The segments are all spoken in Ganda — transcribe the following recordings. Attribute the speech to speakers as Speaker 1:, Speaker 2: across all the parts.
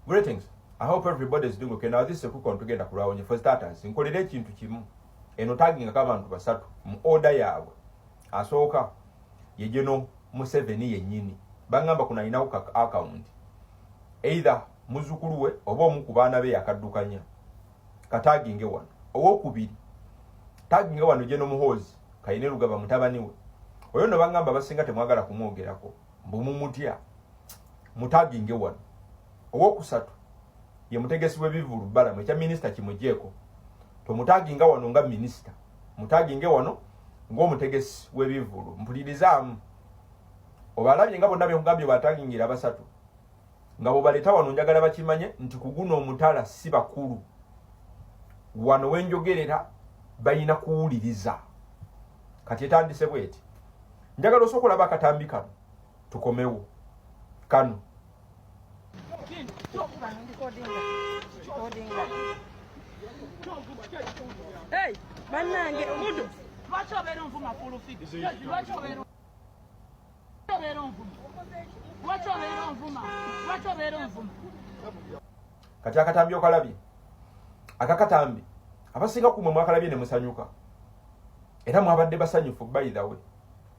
Speaker 1: Greetings. I hope everybody is doing okay. Now this is kuko ntugenda kulwawo nye for starters. Nkolera ekintu kimu. Eno tagging ka abantu basatu mu order yaabwe. Asooka ye General Museveni yennyini. Bangamba kuna ina ku account. Either muzukulu we oba omu ku baana be yakaddukanya. Ka tagging wano. Owokubiri. Tagging wano General Muhoozi. Kayine lugaba mutabani we. Oyo no bangamba basinga temwagala kumwogerako. Mbu mumutya. mutaginge wano owokusatu ye mutegesi w'ebivulu balamu ekya minisita kimujeeko tomutaginga wano nga minisita mutaginge wano ng'omutegesi w'ebivulu mpulirizaamu obalabye nga bonna benkugambye batagingira basatu nga bwebaleeta wano njagala bakimanye nti kuguno omutala si bakulu wano wenjogerera balina kuwuliriza kati etandise bweti njagala osooka olaba akatambi kano tukomewo kano banange omudu
Speaker 2: lwaki obeera onvuma fulufidi lwaki obeera onvuma lwaki obeera onvuma lwaki obeera onvuma
Speaker 1: kati akatambi okalabye akakatambi abasinga kumwe mwakalabye ne musanyuka era mwabadde basanyufu by the way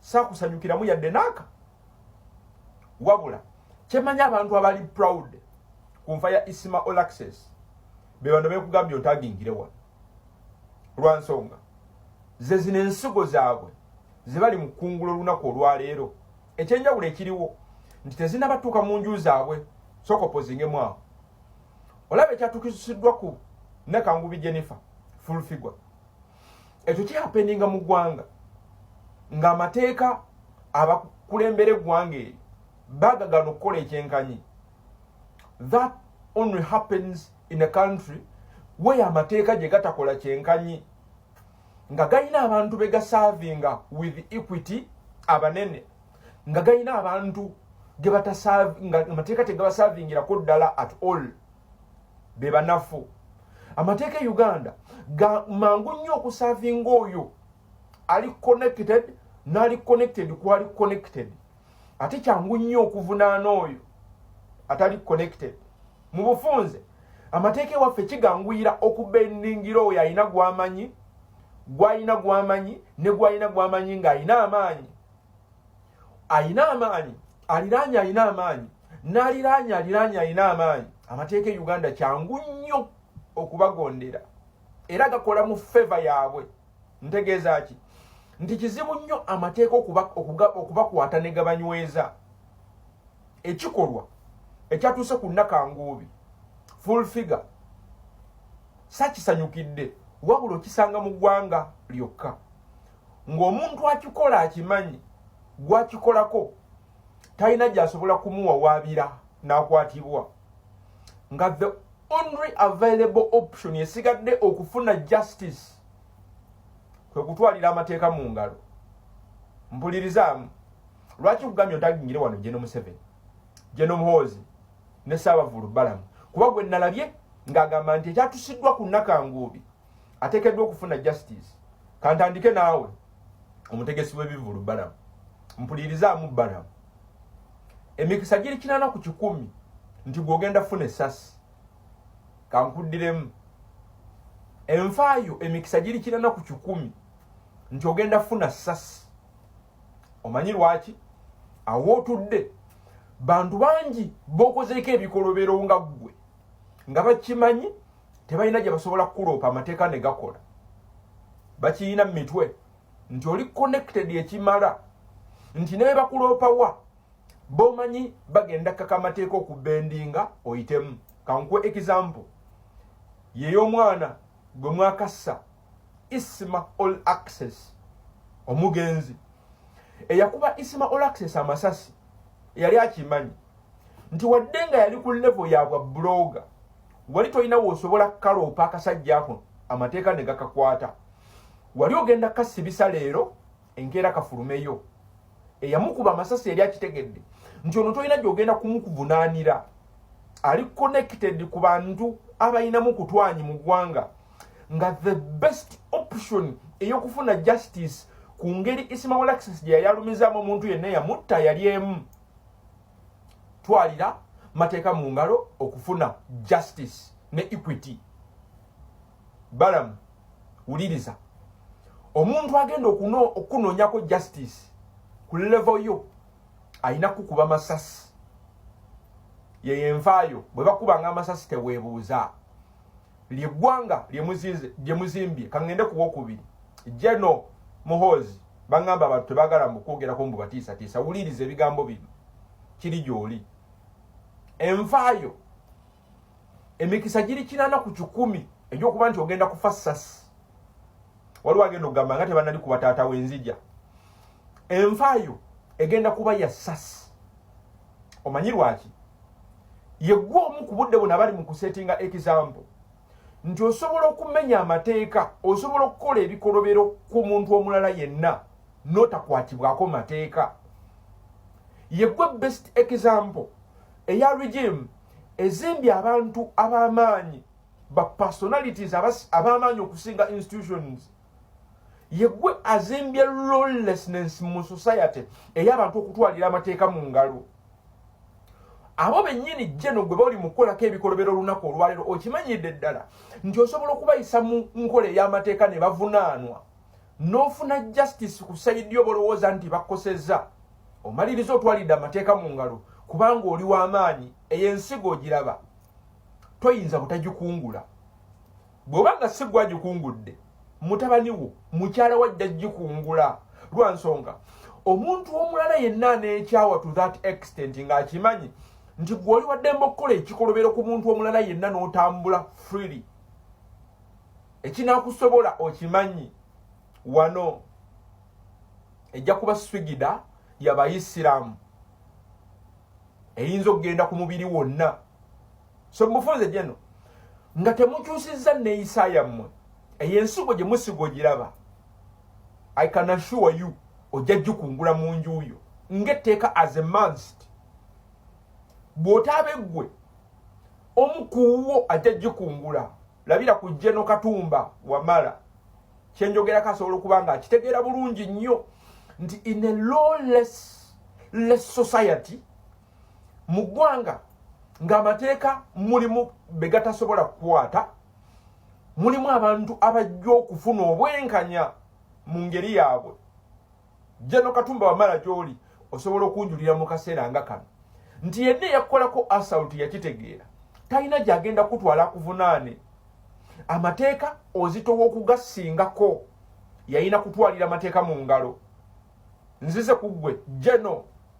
Speaker 1: sakusanyukiramu yadde naaka wabula kyemanyi abantu abali proud ku nfa ya isima olaxes bebano bekugambye otagingire wano lwansonga ze zino ensigo zaabwe zebali mu kungula olunaku olwaleero ekyenjawulo ekiriwo nti tezinabatuuka mu nju zaabwe sokopozingemu awo olaba ekyatukisiddwa ku nakangubi jennifer fulfigure ekyo kyapeninga mu ggwanga ng'amateeka abakulembera eggwanga eryo bagagana okukola ekyenkanyi that only happens in a country weyo amateeka gye gatakola kyenkanyi nga galina abantu be gasaavinga with equity abanene nga galina abantu ge batasaavinga amateeka tegabasaavingirako ddala at all be banafu amateeka e uganda ga mangu nnyo okusavinga oyo ali connected naali connected kwali connected ate kyangu nnyo okuvunaana oyo atali connected mu bufunze amateeka ewaffe kiganguyira okubendingira oyo alina gwamanyi gwalina gwamanyi ne gwalina gwamanyi ng'alina amaanyi alina amaanyi aliraanye alina amaanyi n'aliraanye aliraanye alina amaanyi amateeka e uganda kyangu nnyo okubagondera era gakola mu feva yaabwe ntegeeza ki nti kizibu nnyo amateeka okubakwata ne gabanyweza ekikolwa ekyatuuse ku nakanguubi full figure sakisanyukidde wabula okisanga mu ggwanga lyokka ng'omuntu akikola akimanyi gwakikolako talina gyasobola kumuwawaabira n'akwatibwa nga the only available option esigadde okufuna justice kwe kutwalira amateeka mu ngalo mpulirizaamu lwaki kugambye ntagingire wano jeno museveni jeno muhoozi ne saabavulu balamu kuba gwe nalabye ng'agamba nti ekyatusiddwa ku nakanguubi atekeddwa okufuna justice kantandike naawe omutegesi w'ebivulu balamu mpulirizaamu balamu emikisa giri kinana ku kikumi nti gwogenda funa esasi kankuddiremu enfaayo emikisa giri kinana ku kikumi nti ogenda funa sasi omanyi lwaki awootudde bantu bangi bokozeeko ebikolobero nga ggwe nga bakimanyi tebalina gye basobola kukuloopa amateeka ne gakola bakiyina mu mitwe nti oli connected ekimala nti ne bebakuloopa wa bomanyi bagenda kaka amateeka okubendinga oyitemu kankuwa example yeyomwana gwe mwakassa isma all access omugenzi eyakuba isma all access amasasi yali akimanyi nti wadde nga yali ku levo ya bwa buloga wali tolina wosobola kukaloopa akasajja ako amateeka ne gakakwata wali ogenda kasibisa leero enkeera kafulumeyo eyamukuba amasasi yali akitegedde nti ono tolina gyogenda kumukuvunaanira ali connected ku bantu abalinamu kutwanyi mu ggwanga nga the best option ey'okufuna justice ku ngeri isimawalaxis gye yayalumizaamu omuntu yenna yamutta yali emu twalira mateeka mu ngalo okufuna justice ne equity balamu wuliriza omuntu agenda okunoonyako justice ku levo yo alina kukuba masasi yeyo envaayo bwe bakubanga amasasi teweebuuza lyegwanga lyemuzimbye kangende kuwokubiri jeno muhozi bangamba abantu tebagala mukwogerako mbu batiisatiisa wuliriza ebigambo bino kiri gyoli envaayo emikisa giri kinana ku kikumi egyokuba nti ogenda kufa sasi waliwo agenda okugamba nga tebanali kuba taata wenzija envaayo egenda kuba ya sasi omanyi lwaki yegwa omu ku budde buna bali mu kusetinga example nti osobola okumenya amateeka osobola okukola ebikolobero ku muntu omulala yenna notakwatibwako mateeka yegwe best example eya regime ezimbye abantu ab'amaanyi ba personalities ab'amaanyi okusinga institutions yegwe azimbye lawlessness mu society ey'abantu okutwalira amateeka mu ngalo abo bennyini jeno gwe bali mu kukolako ebikolobera olunaku olwaleero okimanyidde ddala nti osobola okubayisa mu nkola ey'amateeka ne bavunaanwa n'ofuna justice ku sayidi yo bolowooza nti bakosezza omaliriza otwalidde amateeka mu ngalo kubanga oli w'amaanyi eyo ensigo ogiraba toyinza butagikungula bw'oba nga si gwagikungudde mutabani wo mukyala wajja gikungula lwa nsonga omuntu omulala yenna aneekyawa to that extent ng'akimanyi nti gwoli waddembe okukola ekikolobero ku muntu omulala yenna n'otambula freely ekinakusobola okimanyi wano ejja kuba swigida yabayisiraamu eyinza okugenda ku mubiri wonna so mufunze jeno nga temukyusizza neyisa yammwe eyo ensigo gye musiga ogiraba i can assure you ojja jukungula mu njuuyo ngaetteeka as a manst bw'otaabe ggwe omu kuwuwo ajja jukungula labira ku jeno katumba wamala kyenjogerako asobola okuba nga akitegeera bulungi nnyo nti in a lawless less society mu ggwanga ng'amateeka mulimu be gatasobola kukwata mulimu abantu abajja okufuna obwenkanya mu ngeri yaabwe jeno katumba wamala gy'oli osobola okunjulira mu kaseera nga kano nti yenna eyakukolako asauti yakitegeera talina gy'agenda kutwala kuvunaane amateeka ozitowa okugasingako yalina kutwalira amateeka mu ngalo nzize ku ggwe jeno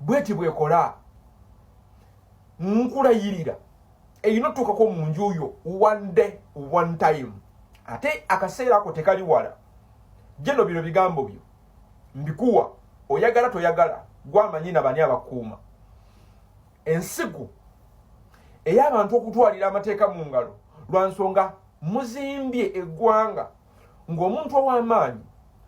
Speaker 1: bweti bwekola nkulayirira erina otutukako mu nju yo one day one time ate akaseera ako tekali wala jeno bino bigambo byo mbikuwa oyagala toyagala gwamanyi na bani abakuuma ensiku ey'abantu okutwalira amateeka mu ngalo lwa nsonga muzimbye eggwanga ng'omuntu ow'amaanyi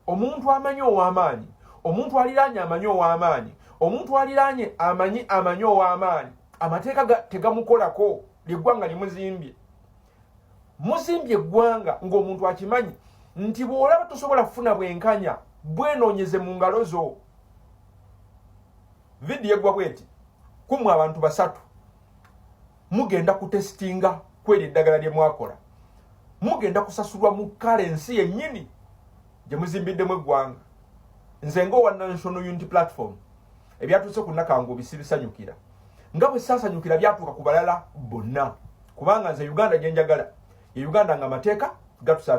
Speaker 1: omuntu amanyi ow'amaanyi omuntu aliraanye amanyi ow'amaanyi omuntu aliraanye amanyi amanyi ow'amaanyi amateeka tegamukolako lyeggwanga limuzimbye muzimbye eggwanga ng'omuntu akimanyi nti bw'olaba tosobola kufuna bwenkanya bwenoonyeze mu ngalo zo vidiyo eggwa bweti kumwe abantu basatu mugenda kutesitinga kweri eddagala lye mwakola mugenda kusasulwa mu kale ensi yennyini gye muzimbiddemu eggwanga nze ngaowa national unity platform ebyatuuse ku nakangu bisibisanyukira nga bwe sasanyukira byatuuka ku balala bonna kubanga nze uganda gye njagala ye uganda nga amateeka gatusaba